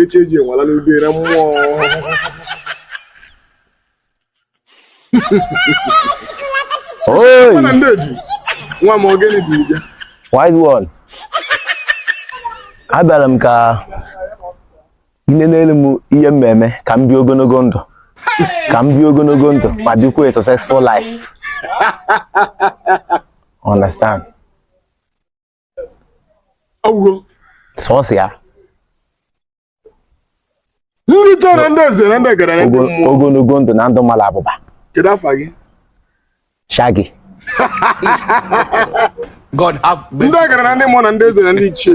echi eji enwala n'ubi na mmụọ Oi! Mana ndị eji nwa m ọ gịnị dị ije Wise one. Abịara m ka i nenere m ihe m na-eme ka m bie ogologo ndụ ka m bie ogologo ndụ ma dịkwa a successful life. Understand? ọwụgo sọsọ ya ndị chọrọ ndị eze na ndị ọgaranya ndị mmụọ ogologo ndụ na ndụ mara abụba kedu afa gị shagi God have mercy. ọgaranya ndị mmụọ na ndị eze na ndị ichie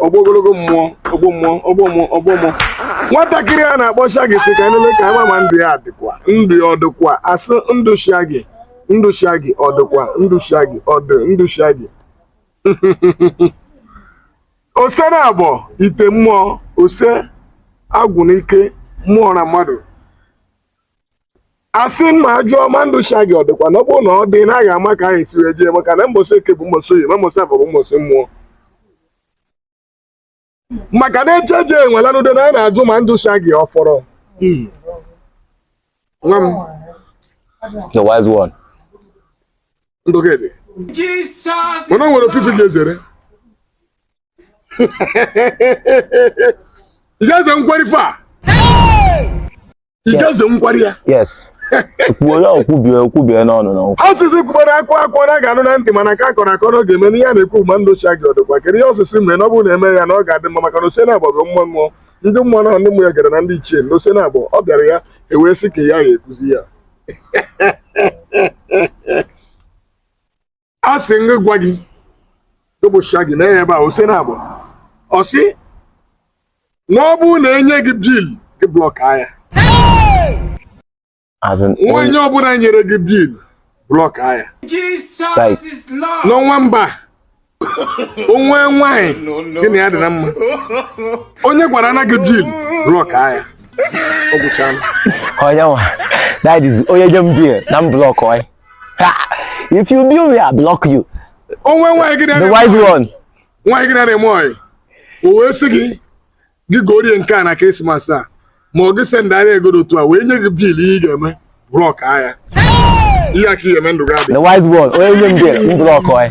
ọgbọ ogologo mmụọ ọgbọ mmụọ ọgbọ mmụọ ọgbọ mmụọ nwatakịrị a na-akpọ shagi sị ka nlele ka a ma ma ndụ ya dịkwa ndụ ya ọ dịkwa a sị ndụ shagi ndụ shagi ọ dịkwa ndụ shagi ọ dị ndụ shagi ose na agbọ ite mmụọ ose agwụ na ike mmụọ na mmadụ a sị m ajụọ ma ndụ shagi ọ dịkwa na ọ bụrụ na ọ dị na a ga-ama ka anyị si wee jee maka na mbọsị eke bụ mbọsị oye ma mbọsị afọ bụ mbọsị mmụọ maka na echeje enwelanudo na anyị na-ajụ ma ndụ shagi ọ fọrọ Hmm. nwa m The wise one. ndụ gị dị Jesus. mana o nwere ife ị ga-ezere ị ga-eze nkwara ife a ị ga-eze nkwara ya yes kwuo ya okwubie okwubie n'ọnụ na okwu asịsị kwukwara akụ akụ ọ ga-anụ na ntị mana nke a kọrọ akọ na ọ ga-eme n'ihe a na-ekwu bụ ma ndụ shagi ọ dịkwa kedu ihe ọ sị sị mere na ọ bụrụ na e mee ya na ọ ga-adị mma maka na ose na-agba bụ mmụọ mmụọ ndị mmụọ na ndị mmụọ ya gara na ndị ichie na ose na-agba ọ bịara ya e wee sị ka ya ya ekwuzi ya a sị ngị gwa gị bụ shagi mee ya ebe a ose na abụọ ọ sị na ọ bụrụ na e nye gị bill gị block ya nwa onye ọbụla nyere gị bill block ya n'ọnwa mba o nwee nwanyị gị na ya dị na mma onye gwara na gị bill block ya ọ gwụchala onye nwa that is onye nye m bill na m blockụọ ya if you bill me, I block you. O nwee nwaanyị gị The wise one. Nwaanyị gị na-eme ọyị. O wee sị gị gị gorie nke a na Krismas a ma ọ gị sendara ego otu a wee nye gị bill ihe ị ga-eme block ya. Ihe aka ihe eme ndụ gị abịa. The wise one. Onye nye m bill m blockụọ ya.